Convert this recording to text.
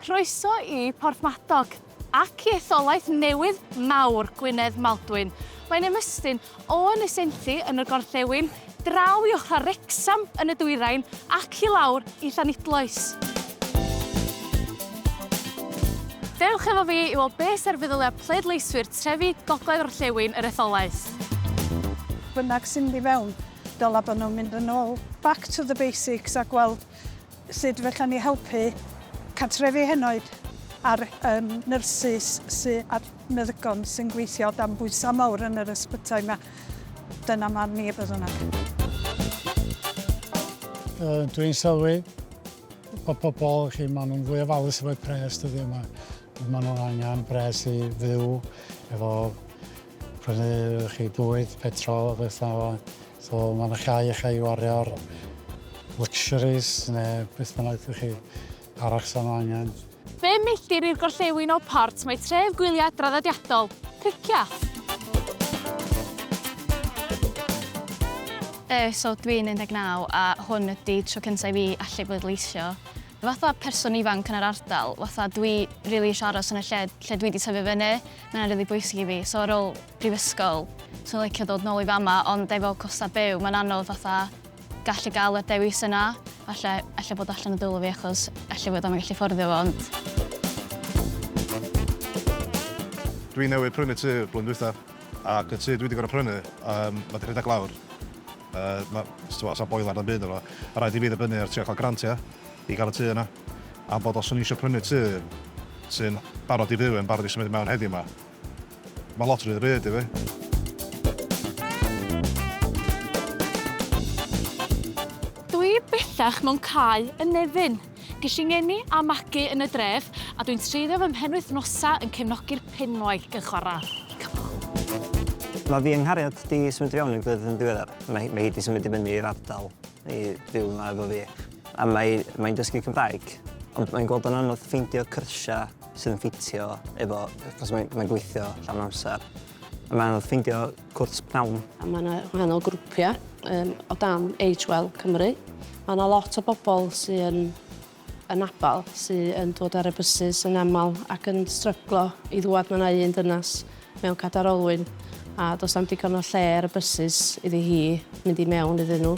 Croeso i Porthmadog ac i etholaeth newydd mawr Gwynedd Maldwyn. Mae'n ymestyn o Ynys Enlli yn y gorllewin, draw i ochrau Wrecsam yn y dwyrain ac i lawr i Llanidloes. Dewch efo fi i weld beth sy'r feddyliau pleidleiswyr trefi gogledd orllewin yr etholaeth. Bynnag sy'n mynd i fewn, dylai bod nhw'n mynd yn ôl, back to the basics, a gweld Sut fechan ni helpu cartrefi henoed a'r yym nyrsys sy a'r meddygon sy'n gweithio dan bwysa mawr yn yr ysbytai ma? Dyna marn ni beth bynnag. Yy dwi'n sylwi bod pobl chi ma' nhw'n fwy ofalus efo'u pres dyddiau yma. Ma' nhw'n angen pres i fyw efo Prynu chi bwyd, petrol a beth fel 'na. So ma' 'na llai i chi wario ar luxuries neu beth bynnag dych chi arall sa nhw angen. Bum milltir i'r gorllewin o Port mae tref gwyliau draddodiadol, Pricya. Yy so dwi'n 19 a hwn ydi tro cynta i fi allu bleidleisio. Fatha person ifanc yn yr ardal fatha dwi rili isio aros yn y lle lle dwi 'di tyfu fyny Mae hynna'n rili bwysig i fi, so ar ôl prifysgol, 'swn i'n licio dod nôl i fama, ond efo costau byw, mae'n anodd fatha gallu gael y dewis yna. Falle, ella bod allan o dwylo fi achos ella bod o'm yn gallu fforddio fo, ond... Dwi newydd prynu tŷ blwyddyn dwytha, ac y tŷ dwi wedi gorfod prynu, um, mae wedi rhedeg lawr. Uh, mae, so, so boiler na'm byd efo. Mae rhaid i fi ddibynnu ar trio cael grantiau. i gael y tŷ yna, am bod os o'n i isio prynu tŷ sy'n barod i fyw, yn barod i symud i mewn heddiw 'ma, mae lot rhy bryd i fi. bellach mewn cae yn Nefyn. Ges i ngeni a magu yn y dref a dwi'n treiddio fy mhenwythnosau yn cefnogi'r penwaith yn chwarae. Mae fi yng Nghariad di symud i fewn i'r gwledydd yn ddiweddar. Mae, mae hi di symud i fyny i'r ardal I fyw yma efo fi. A mae mae'n dysgu Cymraeg. Ond mae'n gweld o'n anodd ffeindio cyrsiau sydd yn ffitio efo, achos mae'n mae gweithio llawn amser. A mae'n anodd ffeindio cwrs pnawn. A mae yna wahanol grwpiau um, o dan Age Well Cymru. Mae yna lot o bobl sy'n yn abal sy yn dod ar y bysus yn aml ac yn stryglo i ddwad ma na un dynas mewn cadar olwyn a does am digon o lle ar y bysus iddi hi mynd i mewn iddyn nhw.